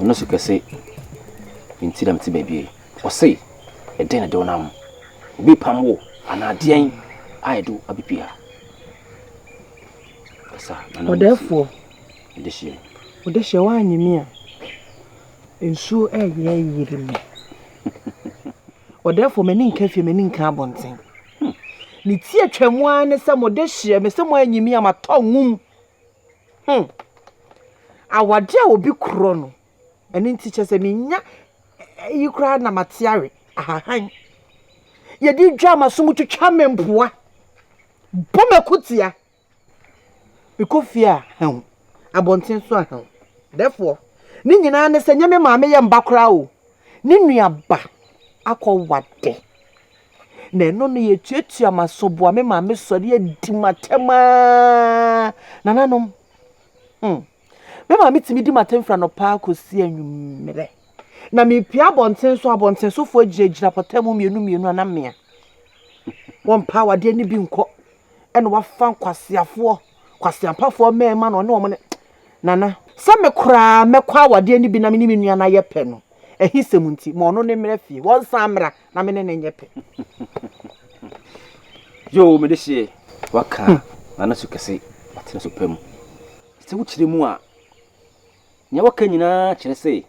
Ɔno so kɛse nti na mete baabi yi. Ɔse, Ɛdeɛn na ɛde wo nam? Obi repam wo anaa deɛn a ɛde wo abɛpie ha? Kasa na na Ɔdɛɛfoɔ. Ɔdehyeɛ. Ɔdehyeɛ woannye me a, nsuo ɛyɛ ayiri me. Ɔdɛɛfoɔ m'ani nka fie, m'ani nka abɔnten. Ne ti atwam ara ne sɛ Modehyeɛ, mese moannye me a matɔ nwom. Hmm. Awade a obi korɔ no, ɛno nti kyɛ sɛ menya yi koraa na mate awe ahahan. Yɛde dwa ma so mu twitwa me mpoa. Bɔ mako tia. Mekɔ fie a hɛn. Abɔnten so a hɛn. Dɛfoɔ, ne nyinaa ne sɛ nyɛ me maame yɛ mba koraa o. Ne nuaba akɔ wade. na ɛno no yɛtuatua m'asoboa me maame sɔre adi m'atɛm aa nananom hmm. me maame tumi di m'atɛm firi anɔpa akɔsi anwummerɛ na mepia abɔnten so abɔnten sofoɔ gyinagyina pɔtɛ mu mmienu mmienu ana mmea wɔmpa awadeɛ no bi nkɔ ɛna wafa nkwaseafoɔ kwaseampafoɔ mmarima na ɔne wɔn ne nana sɛ me koraa mɛkɔ awadeɛ no bi na me ne me nua no ayɛ pɛ no ahisɛm nti ma ɔno ne mmerɛ fie wɔnsan mmra na me ne no nyɛ pɛ. Yoo, mede hyeɛ. Waka n'ano so kɛse, watene so pɛ mu. Sɛ wokyerɛ mu a, nea waka nyinaa kyerɛ sɛ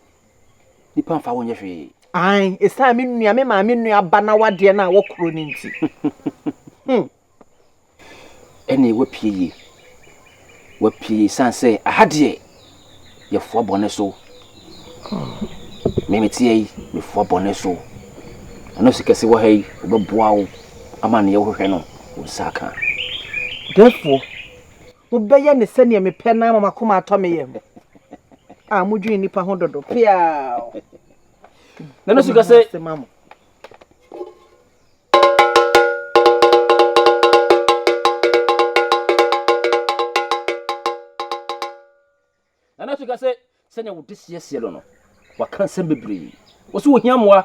nipa mfa wo nyɛ hwee. Ae, esiane me nua, me maame nua ba na wadeɛ no a wɔkorɔ no nti. Ɛnee wapue yie wapue yie san sɛ aha deɛ yɛfoa bɔne so meme teɛ yi mefoa bɔne so ɛno si kɛse wɔ ha yi wobɛboa wo ama neɛ wohwehwɛ no wo nsa aka therefore wobɛyɛ ne sɛdeɛ mepɛ no ama makoma atɔ me yam a modwene nnipa ho dodo peaa na no si kɛse ɛna afei ka sɛ sɛnea wode siesie no no waka nsɛm bebree wɔsɛ wɔhia mmoa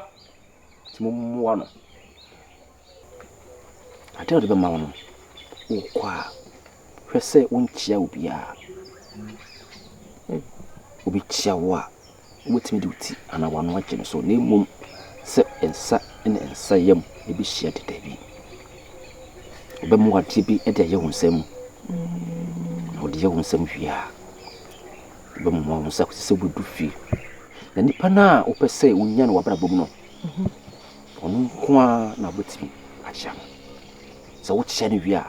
nti mommoa no adeɛ wode bɛma wo no wokɔ a hwɛ sɛ wonkyia obiaa obi kyia wo a wobɛtumi de wo ti anaa w'ano agye no so, na mmom sɛ nsa ne nsa yam bɛhyia de dabi. Wobɛma adeɛ bi de ayɛ wo nsa mu, na wode yɛ wo nsa mu wie a, wobɛmoma wo nsa kɔsi sɛ wobɛdu fie. Na nipa no a wopɛ sɛ wonya no w'abrabɔ mu no, mhm. ɔno nko ara na wobɛtumi akyea no. Sɛ wokyea no wie a,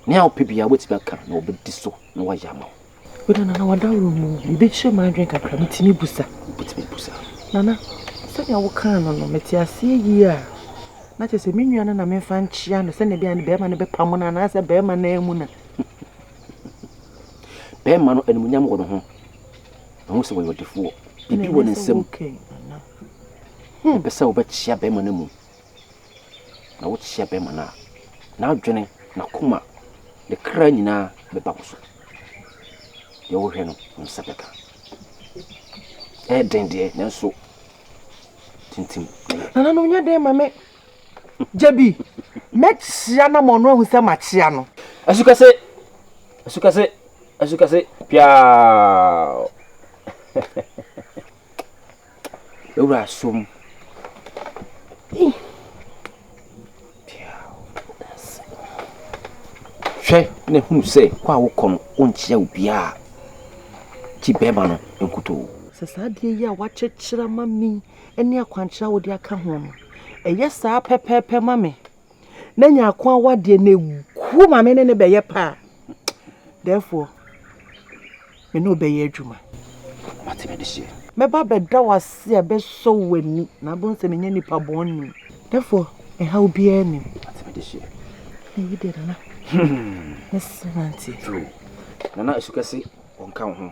nea wopɛ biara wobɛtumi aka na wɔbɛdi so na wɔayɛ ama wo. Woda Nana w'adaworo mu o. Biribi kyere m'adwene kakra, metumi busa? Wobɛtumi abusa. Nana, sɛnea wokaa no no, mete aseɛ yie a, na kyerɛ sɛ me nua no na memfa nkyea no sɛnea ɛbɛyɛ a ne bɛrima no bɛpamo no anaasɛ bɛrima no amu no a? Bɛrima no, animuonyam wɔ ne ho. Mahu sɛ ɔyɛ ɔdefoɔ. Biribi wɔ ne nsam. Ɛnɛ sɛ woke, Nana. Mepɛ sɛ wobɛkyea bɛrima no amu. Na wo kyea bɛma no a, n'adwene, n'akoma, ne kra nyinaa bɛba wo so. Deɛ wohwɛ no, wo nsa bɛka. Ɛyɛ den deɛ, nanso tintim na yɛ. Nana no nyɛ den ma me. Gye bi, mɛkyea na ma ɔno ahu sɛ makyea no. Asukɛse, asukɛse, asukɛse, piaa. Ewura som. Hwɛ na hunu sɛ kɔ a wokɔ no wonkyea obiara gye bɛrima no nkutoo. Sɛ saa adeɛ yi a woakyekyere ama me ne akwankyerɛ a wode aka ho no, ɛyɛ saa pɛpɛɛpɛ ma me. na nyako awadeɛ na ɛgu ma me ne ne bɛyɛ pɛ a, therefore, me ne ɔbɛyɛ adwuma. Mate me de seɛ. Mɛba bɛda wo ase a bɛsɔ wo ani na abɛhu sɛ menyɛ nipa bɔne. Therefore, ɛhaw biara nni mu. Mate me de seɛ. Ɛyi deɛ Nana, mɛse manteɛ. True. Nana, ɛsu kɛse, ɔnka wo ho.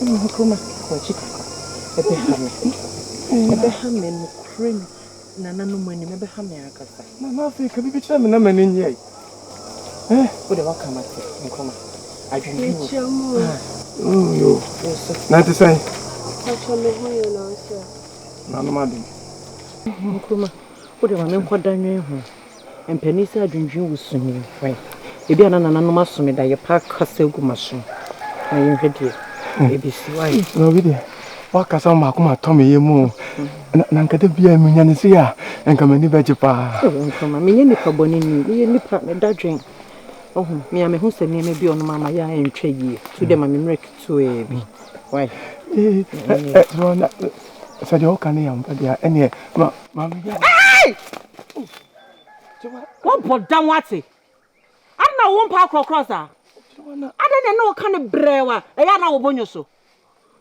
Ɛna ɔka ma wagye kakra ɛbɛha me ɛbɛha me nokorɛ ni nananom anim ɛbɛha me ankasa. Nana afei ka bibi kyerɛ me na m'ani nyɛ yi. Eh? Wode waka ma te nkwama adwene bi wɔ. Ah. Oh yo. Na te sɛn? Akyɛ me ho yɛ na ɔsɛ. Nanom adom. Nkruma wode ma me nkɔda nwene ho. Mpanin sɛ adwendwen wo su nie hwɛ ebi a na nananom asome da yɛ pa kasa agu maso na yɛ nhwɛ deɛ ebesi wai. Na obi deɛ wakasa ma maako ma tɔ me yɛ mu na na nka da bi a menya ne sei a nka m'ani bɛgye paa. Nkama menyɛ nipa bɔne ni meyɛ nipa me da dwen ɔho me a mehu sɛ nneɛma bi ɔnom ama yɛ a ɛntwa yie tu dɛ ma me mmerɛ ketewa bi wai. Sɛ deɛ woka ne yɛ ampa deɛ ɛneɛ ma ma me. Wobɔ dam ate? Adɛn na wo mpaa korɔkorɔ saa? Adɛn na ɛne wo ka no brɛɛw a ɛyɛ a na wo bo nyo so?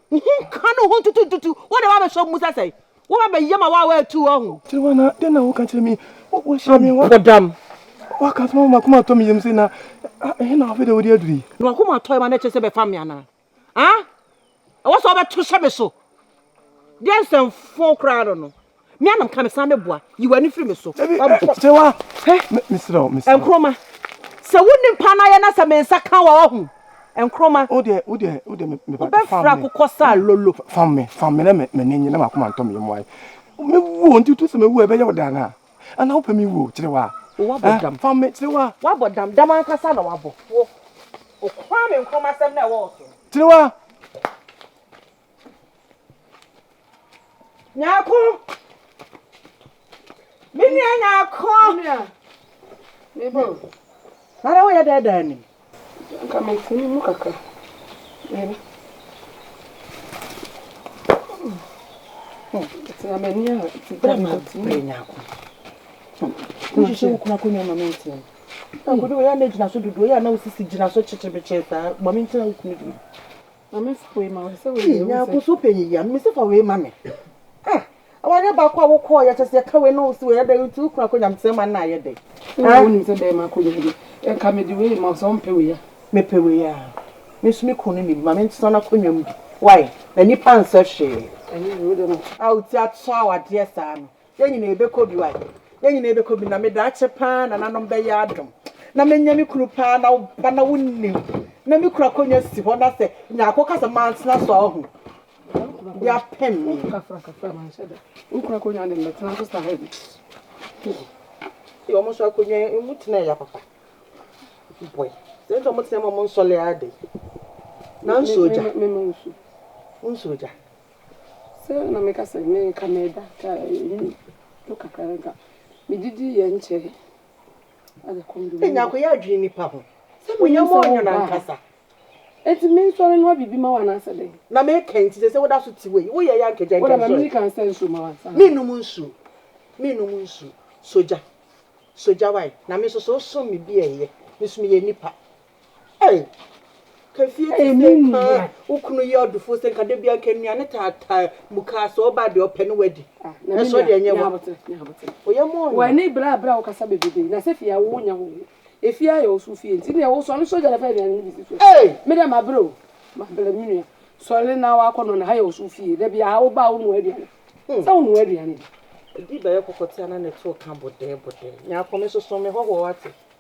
Wo ho nka ne wo ho ntutu ntutu, wode wabɛhyɛ ɔmo mu sɛ sɛn? Woba bɛyɛ ma wawa atu wɔ ho. Kyerɛwa na dɛn na woka kyerɛ me? Wohyɛ me wɔ. Bɔ dam. Waka sɛ ma m'akoma atɔ me yam sɛ na ɛhe na afei de wode aduru yi? Na w'akoma atɔ yam a na ɛkyerɛ sɛ bɛfam me anaa? ah ɛwɔ sɛ ɔbɛto hyɛ me so deɛ nsɛmfo koraa no no me anam ka me san mɛboa yi w'ani firi me so kyerɛwa mesrɛ mesrɛ nkroma sɛ wo nipa no ayɛ na sɛ me nsa ka wɔ ɔho nkroma wode wode wode me me wobɛfra kokɔ saa lolo fam me fam me na me ne nyina makoma ntɔ me yɛ mmoae mewu nti tu sɛ mewu ɛbɛyɛ wo dan a Ana wopɛ me wuo kyerewa? Wabɔ dam. Fa me kyerewa. Wabɔ dam, dam ankasa na wabɔ. Wo, wo Kwame Nkrumah asɛm na ɛwɔ wo so. Kyerewa. Nyako. Me nua Nyako. Me nua. Me bo. Nana woyɛ dɛɛdɛɛ ni. Anka mete ne mu kakra. Mary. Tena m'ani a. Bra ma bere nyako. Wohwehwɛ wo kura akonnwa ma mentena mu. Akodo yɛ na gyina so dodoɔ yɛ na wosisi gyina so kyekyebekye saa ma mentena wo kunu bi. Ei nyankoso panyin yi a me se fa wei ma me ah awareɛ baako a wokɔɔ yɛ kyɛ sɛ yɛka wei na wo se wei ɛdɛ nti wokunu akɔ nyamesɛm ma nna ayɛ dɛ ah wo nim sɛ dɛn ma akɔ nyamesɛm ɛka me de wei ma sɛ ɔmpɛ wei a mepɛ wei a me nso me kunu no nim ma me ntena no akɔ nyam bi why na nipa nsɛ hwee ɛnyɛ wei de no a wo ti akyɛ awadeɛ saa no Yɛn nyinaa yɛbɛkɔ bi wai. Yɛn nyinaa yɛbɛkɔ bi na me daakye paa nananom bɛyɛ adom na menya me kunu paa na ba na wonnim na me kunu akonnwa si hɔ na sɛ nyaako ka sɛ mantena so a wahu de apem me wokunu akonnwa ne mɛtena so saa bi wɔn nso akonnwa emu tena ya papa boy sɛ nti wɔn tena mu wɔn nsɔle ade na nsuo gya nsuo gya Sɛ na meka sɛ me nka meda ka ɛmu to kakra no nka mede di yɛ nkyɛe ada kondomini. Enya ko yɛ adwene nipa ho. Sɛ me yɛ mo ɔnyo na nkasa. Eti me nsɔre no abibi ma wo anaasɛ dɛn. Na me ka nti sɛ sɛ woda so te wei wo yɛ yɛ anka gya nka nsɔre. Woda ma me nika nsa nsuo ma wo ansa. Me num nsuo me num nsuo sogya sogya wai na me nso so som me bi ɛyɛ me so me yɛ nipa Ei! Kefie te sɛ nkaa wo kunu yɛ ɔdefo sɛ nka da bia nka nnuane taataa mu kaa sɛ ɔba deɛ ɔpɛ ne wadi nanso ɔde ɛnyɛ wa oyɛ mɔ ɔnyɛ w'ani bra bra wo kasa bebrebee na sɛ fie a wo nya ho efie a yɛ ɔso fie nti ne ɛwo sɔre sɔre gyare fa aduane no bi si so me dɛ ma bere o ma bere me nua sɔre na wa kɔ no na ha yɛ ɔso fie da bia wo ba wo nua aduane sɛ wo nua aduane bi ɛdi bɛyɛ kɔkɔtea na ne to ka bodɛɛ bodɛɛ nyaako me soso me hɔhoɔ wate.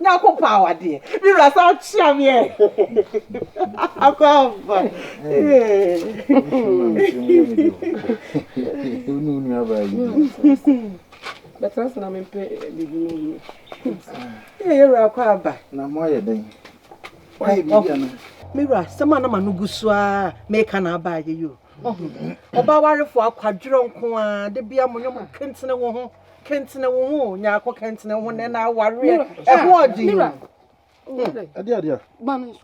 Nyankopɔn awadeɛ me wura san kyea me ɛ abaaba ee. Bɛtena ase na mempɛ biribi ma ɔhene. Ee yɛ wura kɔ aba. Na mo ayɛ dɛn? Wayɛ biribi anaa? Me wura asɛm a na m'ano gu so ara meka na aba ayɛ yi o. Ɔbaa warefoɔ akwadworɔ nko ara, da biara mo nyɛ mo kentene wo ho. Kɛntene wo ho, Nyako, kɛntene wo ho na ɛna awareɛ ɛho ɔden. Ɛdeɛ adeɛ a.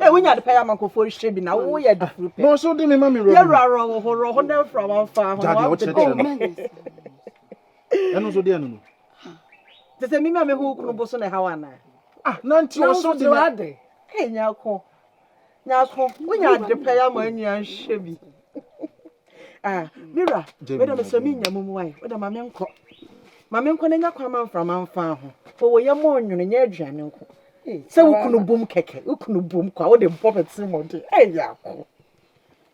Ɛ wonya de pɛyɛ amankofo hyɛ bi na wo yɛ de furu pɛ. Na ɔsɛ ɔde mi ma mi rɔ. Yɛ rɔ rɔ wo ho rɔ ho na nfura ma nfa ho. Jadeɛ ɔkyɛ kyɛ. Ɛno nso deɛ no no. Te sɛ mi ma mi ho kunu bo so na ɛha wa na. Ah nanti ɔsɛ ɔde mi. Ɛ nyako. Nyansfo, wonya ade pa yi ama anua nhwɛ bi. Ah, me wura, wei dɛ mesrɛ mennya mu mmoa yi, wo dɛ ma menkɔ. Ma menkɔ na nya kwan ma mframa mfa ho. Fa wo yam ɔnwono, nyɛ aduane nko. Sɛ wo kunu bom kɛkɛ, wo kunu bom kwa, wo de bɔ bɛtee mmɔden. Ɛyɛ ako.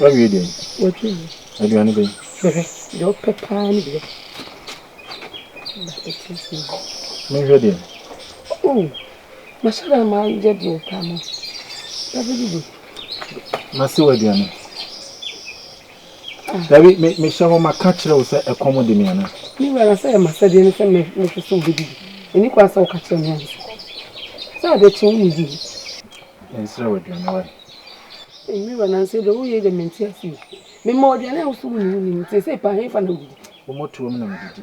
Wawie deɛ? Watwi mu. Aduane bɛn? Hwehwɛ, deɛ ɔpɛ paa ne bia. Menhwɛ deɛ? Oh, masɔre a mayɛ deɛ ɔpɛ ama. Bɛbɛdidi. Masi wɔ aduane. Dabi, me, mehyɛ hɔ ma ka kyerɛ wo sɛ ɛkɔm de me anaa? Me wura, na sɛ ɛyɛ m'asɛdeɛ ne sɛ mɛ, mɛhwɛ sɛ wobɛdidi. Ɛnni kwan sɛ woka kyerɛ me ansa. Sɛ adeɛ kye wonnidi he? Mensrɛ wo aduane wae. Ei, me wura, nanso deɛ woyei deɛ mente aseɛ o. Mema wo aduane a wo se wonni, wonni, nti seesei paa hefa na wodidi? Wo mmɔtoam na medidi.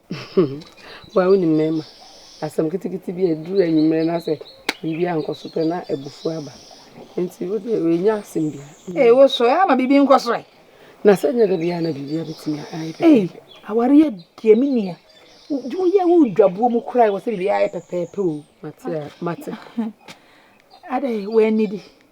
Wo a wonim mmarima, asɛm ketekete bi a ɛduru anwummerɛ na sɛ biribi ankɔ so pɛ na abufuo aba. Nti wo deɛ ɛnyɛ asɛm biara. Ee, wo so ɛyɛ ama biribi nkɔ so ɛ. Na sɛ nyɛ da biara na biribi abɛtumi ayɛ pɛpɛɛpɛ. Ee, awareɛ deɛ me nua, woyɛ wo dwabuo mu koraa ɛwɔ sɛ biribi ayɛ pɛpɛɛpɛ o. Mate a, mate. Adɛn, woannidi?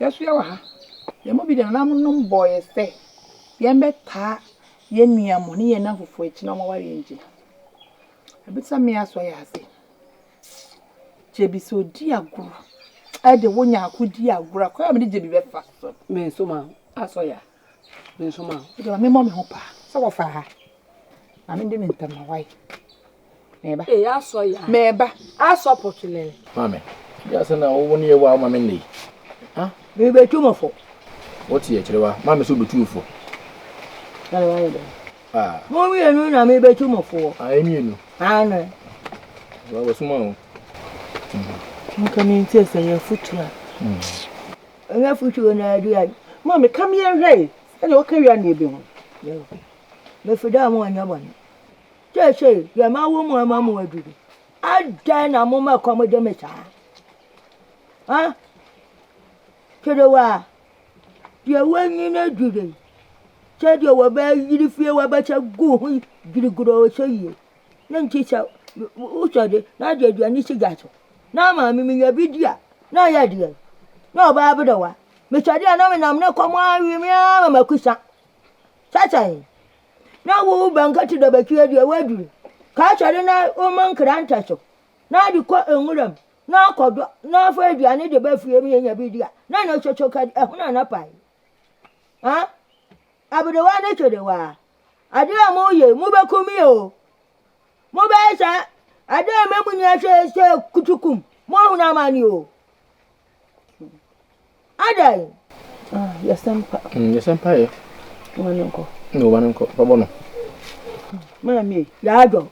Yɛsoɛ wɔ ha. Yɛn mu bi de nananom bɔɔ yɛn sɛ yɛmmɛtaa yɛn nuanom ne yɛn nnamfofo akyi na wɔaware yɛn gyina. Abisa me asɔ yɛ ase. Gyebi sɛ odi agorɔ ɛde wo nyaako di agorɔ a kwan a mede gyebi bɛfa so. Me nso ma asɔ yɛ ase. Nso ma wode ma memmɔ me ho paa sɛ wɔfaa ha na mede me ntam ma wae mɛba ee asɔ ya mɛba asɔ pɔtulɛlɛ maame bi asɛ na wo ne yɛwa wo maame nnei ha mebɛtu mo fo wote yɛ kyerɛ wa maame sɛ wobɛtu fo ɛne wayɛ dɛ ah. mo mmienu na mebɛtu mo foɔ ah, mmienu ano wɔsoma wo nka mentie sɛ yɛafotu a hmm. Ɔhwɛ fo twi wɔ na adu ya. Maame ka mi ɛhwɛ yi. Ɛna ɔka wia ne ebi ho. Mefiri dɛ ɔmo ɔnyɛ bɔne. Kyɛ sɛ deɛ mawo mu ama mo aduru. Adɛn na mo ma kɔm de me saa? Ha? Kerewa. Deɛ wɔnyi no aduru yi. Sɛ deɛ wɔbɛyiri fie wɔbɛhyɛ gu ho yi girigiri ɔhyɛ yie. Na nkyɛ sɛ wosɔ de na ɔde aduane si gya so na ama me menya bi di a, na ayɛ deɛn? Na ɔbaa aberewa. Mesɔ de a na menam ne kɔm ara awe me ara ma mako sa. Sɛ sɛn? Na wo Bankɛte Dabatwia deɛ woaduru. Ka asɔre na woma nkrantɛ so na ade kɔ nwura mu na akɔdɔ na afa aduane de ba fie ma yɛnya bi di a, na ɛno nso so ka de, ɛhono a na pae. Haa? Aberewa ne kyerewaa, Ade a moreyɛ yi, mobɛkɔ mu yɛ o. Mobɛyɛ saa, ade a ɛma mo nyinaa hwɛ sɛ kutukum, moahunu amane o. Adɛn? Ah, yɛsɛ mpa. Mm, yɛsɛ mpa yɛ. Wɔn ne nkɔ. Ne wɔn ne nkɔ, bɛbɔ no. Maame. Yaadɔ.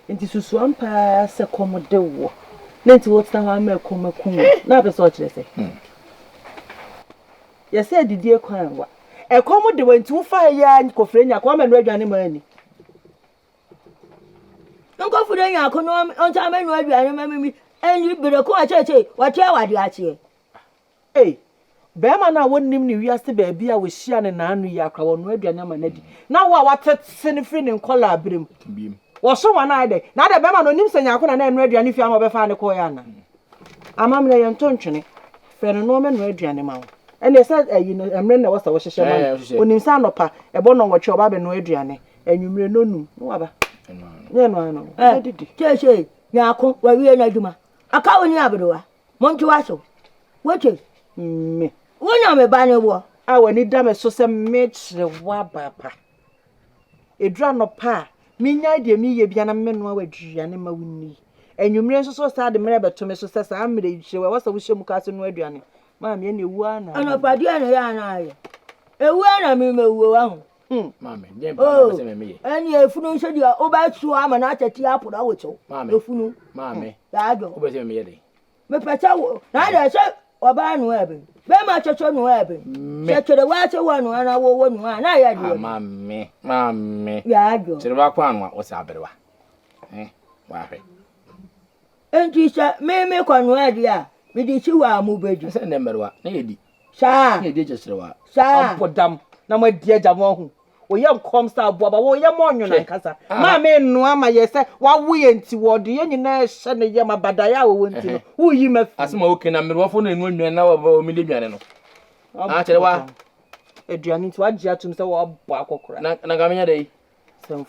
Nti susuam paa sɛ kɔm de woɔ. Na nti wotena hɔ ama ɛkɔm akum wo. Na apɛ sɛ ɔkyerɛ sɛ. Mm. Yɛsɛ adidie kwan wa. Ɛkɔm de wa nti wo fa ha yi ara kɔfrɛ nyako ama no adwane ma ani. Nkɔfrɛ nyako no ɔnsa ama no adwane ma mimi. Ɛnyi berɛ ko akyɛkyɛ wɔte awade akyeɛ. Ei, bɛrima no a wɔnnim ne wiase baabi a wɔhyia ne naano yi akora wɔnoa aduane ama no adi. Na wo a watete no firi ne nkɔlaa berɛ mu. Wɔso wɔn ayɛ dɛn? Na adɛn bɛrima no ɔnim sɛ nyako na na ɛnoa aduane fie ama ɔbɛfaa no kɔeɛ anaa? Amammerɛ yɛ ntɔ ntwene. Frɛ no na ɔmmɛnoa aduane ma wo. Ɛnneɛ sɛ ayi no, mmerɛ no na ɛwɔ sɛ wohyehyɛ ma no. Ɔnim sɛ anɔpa, ɛbɔ nnɔnwɔtwe a, ɔba abɛnoa aduane. Anwummerɛ, nnɔnnum, na waba. Nyɛ ɛno ara na ɔbɛdidi. Seesei, Nyarko, wawie n'adwuma. Aka wo ne Aberewa. Monte wo aso. Wote? Me. Wo na me ba no wɔ. A w'ani da me so sɛ mɛkyerɛ wo abaapa. Ɛduru anɔpa a, mennyae deɛ mereyɛ biara na memmɛnoa wo aduane ma wo nni. Anwummerɛ nso so saa de mmerɛ bɛto me so sɛ saa mmerɛ yi hyɛ ɛwɔ sɛ wohyɛ mu kaa sɛ noa aduane. Maame ɛne ɛwu ara na. Anɔpa deɛ na yɛ ara na ayɛ. Ɛwu ara na memmɛwuo wa ho. Hmm. Maame, deɛ mpa na ɔpɛ sɛ mɛmeyɛ. Oh, ɛne efunu nso deɛ wobɛtuo ama no atɛti aporo awo kyew. Maame. Efunu. Maame. Hmm. Yɛ adwo. Wobɛ sɛ mɛmeyɛ dɛn? Mepɛ sɛ wo na adɛ sɛ ɔbaa nua ɛbɛ bɛrima soso nua ɛbɛ sɛ kyerewa ase wɔ nua na wɔwɔ nua na yɛ deɛ maame maame yaadwo kyerewa kɔ anwa wɔ sɛ aberewa eh wahwɛ nti sɛ me me kɔ nua deɛ a mede si hɔ a mo bɛdi sɛ nnɛ mmerewa na yɛdi Saa. Yɛ di gyesere wa. Saa. Abɔ dam na mo adi agya mo ahu. Wɔyɛ nkɔm sɛ aboa ba wɔyɛ mo ɔnwene ankasa. Maame nnoa ma yɛ sɛ wawo yɛ nti wɔde yɛ nyinaa hyɛ ne yam abadaeɛ a wɔwɔ nti no woyi ma fi. Asɛm a woke na mmerewafoɔ no anu nnuane na wɔmi di aduane no. Akyɛre wa. Aduane nti wagye atum sɛ wɔabɔ akɔkora. Na na nka menyɛ dɛ yi.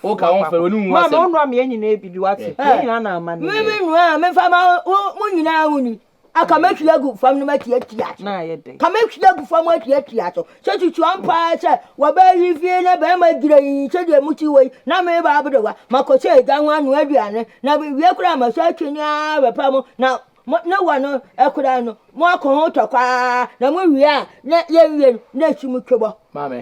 wo ka wo fɛ wo ni hu asɛm ma ɔnua mmiɛ nyinaa bi bi wate yɛ nyinaa na ama ne mi mi nua mi fa ma mo nyinaa ho ni aka mm. mɛtwi agu fam no mɛtwi atwi aso na ayɛ dɛ ka mɛtwi agu fam atwi atwi aso sɛ tutu ampa sɛ wɔbɛyi fie na bɛrima gyina yi sɛ deɛ mo ti wɔ yi na me ba abere wa makɔ sɛ agya ho ano aduane na wie koraa ma sɛ atwi ni ara bɛpa mo na ne wɔ no ɛkoraa no mo akɔ ho tɔkwaa na mo wie a na yɛn wie no na esi mo twebɔ. maame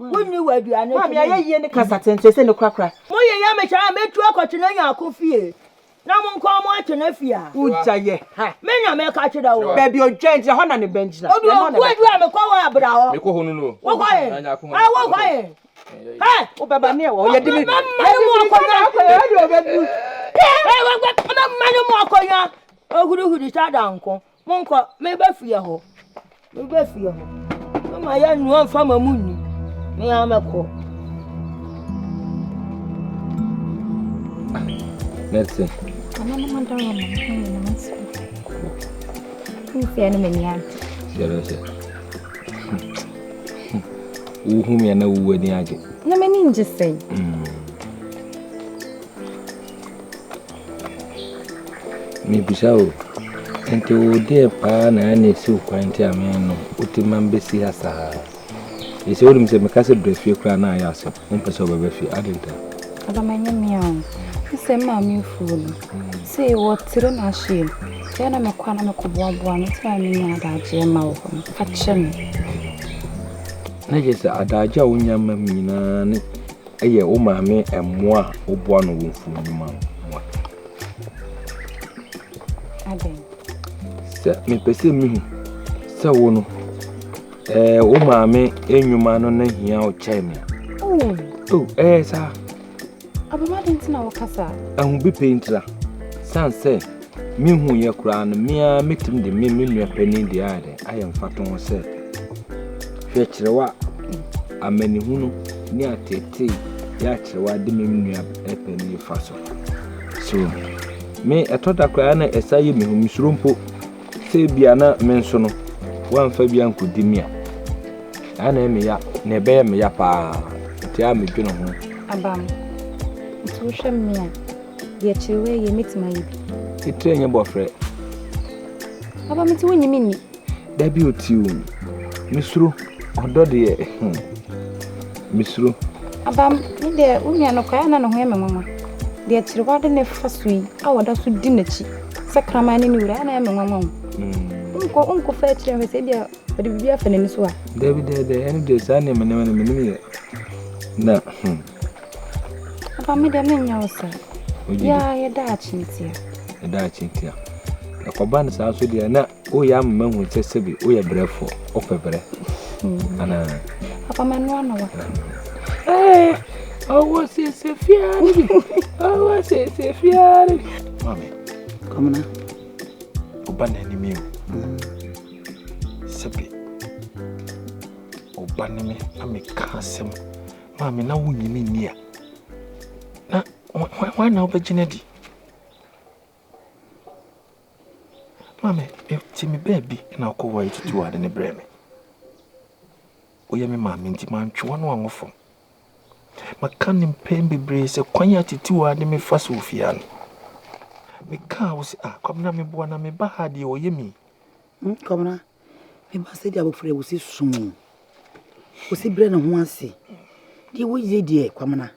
Wonni w'aduane to me. Maame ayɛyie ne kasa tenten sɛ ne korakora. Mo yɛ yɛ me saa a, mɛtu akɔtwe no anya ako fie na mo nkoa mo atwe no afi ha. Wogya yɛ ha. Me na meka kyerɛ wo. Baabi odwan gyina, hɔ na ne bɛn gyina. Odu Ɔkuadu a mekɔ hɔ a, bra hɔ. Mekɔ hɔ no no. Wokɔ he? Haa wokɔ he? Hɛ! Wobɛba ne ɛwɔ hɔ, yɛde biribi. Mɛma no mu akonnwa. Yɛde biribi sɛdeɛ ɔbɛduru. Hɛ! Mɛma no mu akonnwa. Ɔhurihuri sɛ adanko. Monkɔ, mereba fie hɔ. Mereba fie hɔ. Mama yɛ nnuan mfa ma mo nni. Me ara mɛkɔ. Mɛte. Ana na ma dɔrɔ ma mo yɛ na mɛte. Nfie no m'ani agye. Sɛbɛ sɛ. Wohu me ana wowu ani agye. Na m'ani ngye sɛn. Mm. Mebisa o, enti wo deɛ paa na ɛyɛ na ɛsi wo kwan nti a menom woti ma mbɛsi ha saa? Ɛsɛ wonim sɛ meka sɛ brɛ fie koraa na ayɛ asɛm, wompɛ sɛ wobɛbɛ fie, ade nta? Adam ɛnyɛ mea o, ne sɛ maame afuo no, sɛ wɔ tire na ahyeɛ mu, sɛ na mekɔ a na mekɔ boaboa no, sɛ a menya adagyeɛ ma wɔ hɔ no, fa kyɛ me. Na kyerɛ sɛ adagyeɛ a wonya ma me nyinaa ne Yɛ wo maame mmoa a woboa no wɔ mfuonwuma mu mmoa. Adɛn? Sɛ mepɛ sɛ mehu sɛ wo no ɛɛ wo maame nnwuma no na hia wo kyɛn me a. Oh. Oh, ɛyɛ saa. Abɛma de nti na wɔkasa. Ɛho bi pɛ ntira. San sɛ Mehuiɛ koraa no, me ara mɛtumi de me me nua panin deɛ ayɛ dɛ ayɛ mfatoho sɛ, hwɛ kyerɛw a amanehunu ne ateetee yɛ akyerɛw a de me me nua panin fa so. So, me ɛtɔ da koraa na ɛsa yɛ me hu, mesuro mpo sɛ ebia na me nso no, wɔamfa bi ankɔdi me a, ɛa na ɛyɛ me ya, na ɛbɛyɛ me ya paa, nti a medwene ho. Abam, nti wohwɛ me a, Deɛ kyerɛ wei yɛ mɛtumi ayɛ bi. Titire nyɛ bɔfrɛ. Aba mete wo nyimi nni. Da bi otiw. Mesuro ɔdɔ deɛ. Hmm. Mesuro. Aba me deɛ wo nua no kɔɛ na ne ho yɛ me nwanwa. Deɛ kyerɛ wade ne fa so yi a wɔda so di n'akyi sɛ kraman ne ne wura na yɛ me nwanwa wo. Nkɔ nkɔ fa akyerɛ hwɛ sɛ deɛ ɔde biribi afa n'ani so a. Dabi dabi ɛne deɛ saa nneɛma nneɛma no menim yɛ. Na hmm. Papa me deɛ menyɛ wo saa. Yaa yɛ daakye ntia. Yɛ daakye ntia. Ɛkɔba no saa nso deɛ na woyɛ ama ma hu sɛ sɛbi woyɛ brɛfoɔ wopɛ brɛ hmm. anaa. Papa mɛno ano wa. Ɛɛ ɔwɔ sese fiara bi ɔwɔ sese fiara bi. Maame. Kɔmina. Ɔba na anim yi o. Hmm. Sɛbi ɔba ne me ameka asɛm. Maame, na wonnye me nni a, na hwan na wobɛgye no adi? Maame, ti me baabi na wokɔ hɔ a yɛtutu ade no brɛ me. Woyɛ me maame nti mantwe w'ano ango fam. Maka no mpɛn bebree sɛ kwan a titiw a de mefa so ofie ano. Mekaa wo sɛ, ah, Kwabena meboa na meba ha deɛ ɔyɛ me yi. Nkɔmena, me ba sɛdeɛ abɔfra yi wo se som o, wo se brɛ ne ho ase, deɛ wo yie deɛ kwamena,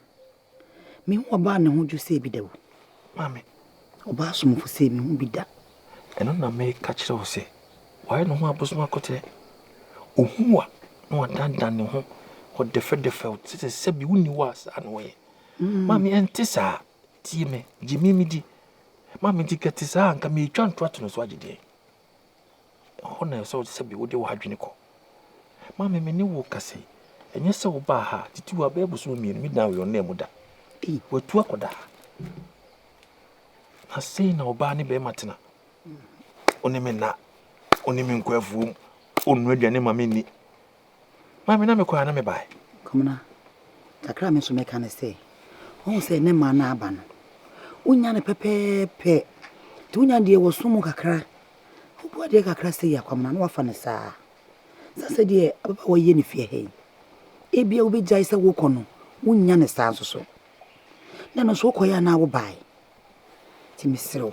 me hu ɔbaa ne ho dwo sɛ bi da o. Maame. Ɔbaa somfo sɛ me hu bi da. Ɛno na me ka kyerɛ wo sɛ wayɛ ne ho abosom akɔtrɛ, ohu wa na wadandan ne ho wɔ dɛfɛdɛfɛ o, te sɛ sɛbi wo ni wo a saa na wɔyɛ. Mm. Maame ɛnte saa, tie me, gye me midi. Maame nti kɛte saa nka me etwa ntoa to no so agye deɛ. Ɛhɔ na ɛsɛ sɛ ɔte sɛ bi wode w'adwene kɔ. Maame me ne wo kasa yi, ɛnyɛ sɛ wobaa ha titi wɔ abɛɛ bosome mmienu me dan wɔ yɔn nan mu da. Watu akɔda ha. Na sei na ɔbaa ne bɛrima tena. Ɔne me nna, ɔne me nkɔ afuom, ɔnnu aduane ma me nni. Maame na mekɔ ana mebae? Komena, kakra a me nso mɛka ne sɛ, wohu sɛ ne mmaa no aba no, wonya no pɛpɛɛpɛ. Nti wonya deɛ wɔso mu kakra. Wobu adeɛ kakra sɛ yɛ akwamena na wafa no saa. Sɛ sɛ deɛ ababaawa yɛ ne fie ha yi, ebia wobɛgyae sɛ wokɔ no, wonya no saa nso so. Na ɛno nso wokɔeɛ anaa wobae? Nti mesrɛ wo,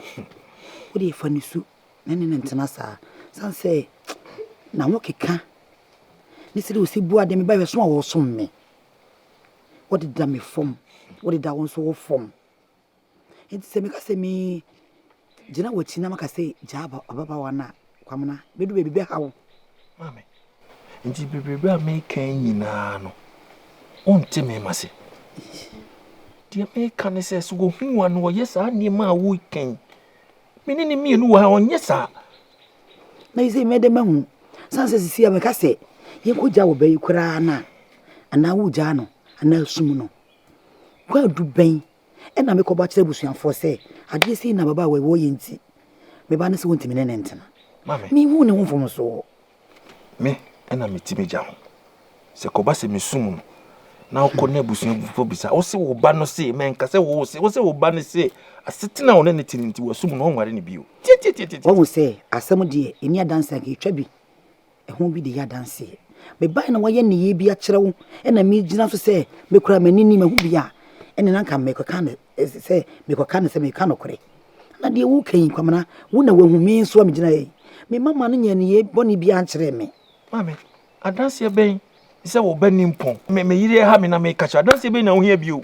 wodeɛ fa ne su na ɛne no ntena saa. Ɛsiane sɛ na wɔkeka ne sɛdeɛ ɔsi bu adeɛ, mebaeɛ so a wɔsom me. Wɔdeda me fam, wɔdeda wo nso wo fam. Nti sɛ meka sɛ me gyina w'akyi na maka sɛ gyaa ababaawa no a, kwamena bɛdu baabi bɛha wo. Maame, nti bebrebe a meka nyinaa no, wonte me ma se. Deɛ meka ne sɛ, sɛ wɔhu wa no wɔyɛ saa nneɛma a wokan me ne ne mmienu wɔ ha ɔnyɛ saa na yi sɛ mɛdɛ mahu san sɛ sisi a mɛka sɛ yɛnkɔgya wɔ bɛyi koraa no a anaa wogyaa no anaa sum no kwaadu bɛn ɛna mekɔbɔ akyerɛ abusuafoɔ sɛ adeɛ sei na baba a wɔwɔ yɛ nti meba no sɛ wɔntumi ne ne ntena mehu ne ho mfomsoɔ Me na meti m'agya ho. Sɛ kɔba sɛ mesum no na wokɔ na abusuafo bisa wo se wo ba no se mɛnka sɛ wo se wo se wo ba no se asetena a ɔne ne te no nti wasum no ɔnware no bio. Tietietie. Wahu sɛ asɛm deɛ ɛni adanse anka ɛtwa bi ɛho bi de yɛ adanseɛ. Mebae na wayɛ nneyɛɛ bi akyerɛ wo ɛna megyina so sɛ mekura m'ani ni mahu bi a ɛne na anka mekɔka ne Ɛsɛ sɛ mekɔka no sɛ mereka nokorɛ, na deɛ woreka yi, Kwamina, wo na woahu, me nso a megyina ha yi, me mama no nyɛɛ nneyɛɛ bɔne biara nkyerɛɛ me. Maame, adanseɛ bɛn? Sɛ wo ba nni mpɔn. Me me yere ha me na meka kyerɛ. Adanseɛ bɛn na wohia bio?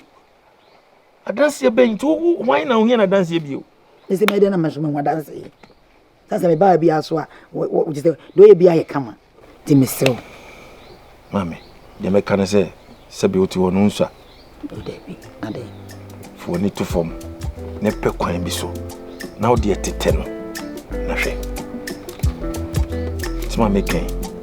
Adanseɛ bɛn? Nti wo hwan na wohia no adanseɛ bio? Mese mɛyɛ dɛn na me nso mahu adanseɛ? Na sɛ mebaa bia so a wogye sɛ deɛ ɔyɛ bia yɛ kama nti mesrɛ wo. Maame deɛ mɛka ne sɛ sɛbi wote hɔ no nsua. Dabi adɛn. Fa w'ani to fam na pɛ kwan bi so na wode ɛtetɛ no na hwɛ. Sɛ maame kɛn.